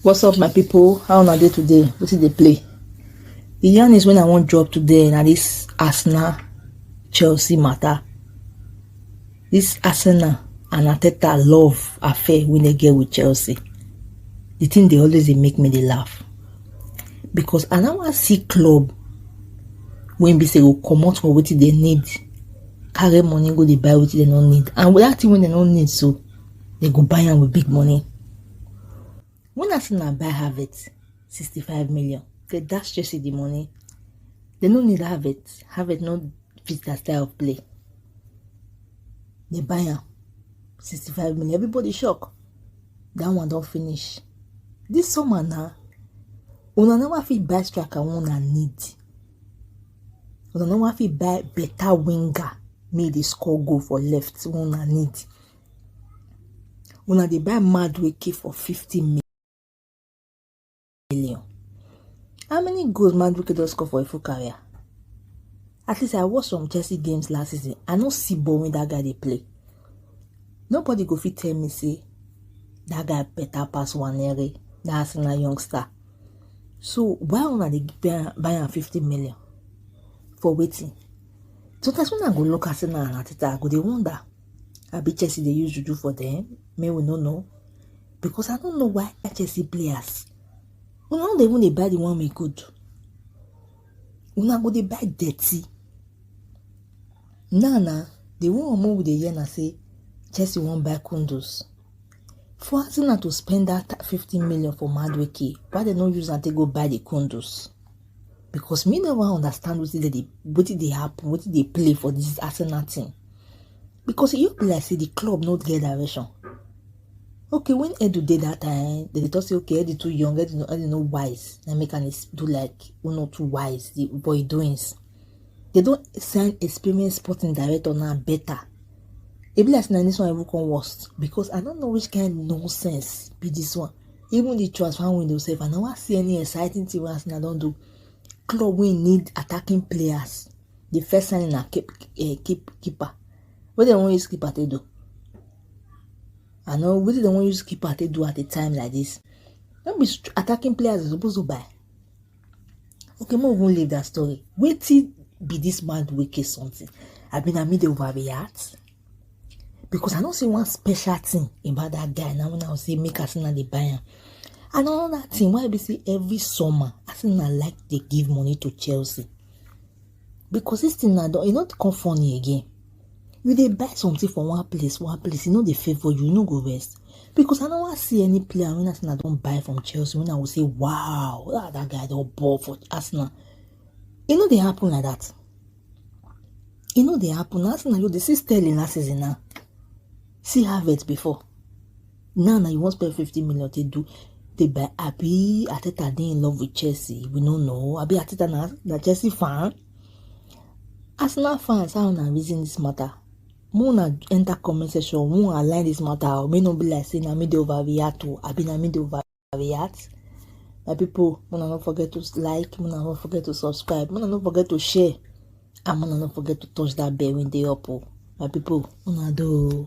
what's up my people how una dey today wetin dey play the yarn is when i wan drop today na this arsenal chelsea matter This Arsenal and Arteta love affair wey dem get with Chelsea, the thing dey always dey make me dey laugh because I no wan see club wey be say go comot for wetin dem need carry money go dey buy wetin dem no need and that thing wey dem no need so dem go buy am with big money. When Arsenal buy Havertz, 65 million, they dash Chelsea the money. They no need Havertz. Havertz no fit their style of play. They buy him, 65 million. Everybody shock. That one don't finish. This summer now, una never fit buy striker una need. Una never fit buy better winger make dey score goal for left una need. una dey buy mad wake for 50 million how many goals mad wake don score for a full career at least i watch some chelsea games last season i no see ball wey that guy dey play nobody go fit tell me say that guy better pass wanere that arsenal youngster so why una dey buy am 50 million for wetin sometimes when i go look arsenal and ateta i go dey wonder abi chelsea dey use juju for dem make we no know because i no know why chelsea players una no dey even dey buy the one wey good una go dey buy dirty now na the one wey we dey hear na say chelsea wan buy kundus for arsenal to spend that fifty million for madueke why dem no use am take go buy the kundus because me never understand wetin dey wetin dey happen wetin dey play for this arsenal team because e just be like say the club no get direction okay when edu dey that time they dey talk say okay edu too young edu no edu no wise na make am do like who no too wise the boy doings they don sign experienced sporting director now better e be like say na this one even come worst because i no know which kind nonsense be this one even the transfer window sef i no wan see any exciting thing wey arsenal don do club wey need attacking players the first sign na keep eh, keep keeper wetin dem wan use keeper take do i know wetin dem wan use keeper take do at a time like this no be attacking players dem suppose to buy okay make we even leave that story wetin be this man wicked something abi na me dey overreact. because i know see one special thing about that guy now when i say make i see na dey buy am and another thing why be say every summer i see na like dey give money to chelsea because this thing na don e no come funny again you dey buy something for one place one place e no dey favour you you no go rest because i no wan see any player wey arsenal don buy from chelsea wey i go say wow ah, that guy don ball for arsenal e no dey happen like that e no dey happen na na you dey see sterling last season now see harvest before now na you wan spend fifty million take do dey buy abi ateta dey in love with chelsea we no know abi ateta na na chelsea fan arsenal fans how una reason this matter make una enter comment section make una align this matter o make no be like say na me dey overreact o abi na me dey over. react my people una no forget to like una no forget to subscribe una no forget to share and una no forget to touch that bell wey dey up o oh. my people una do.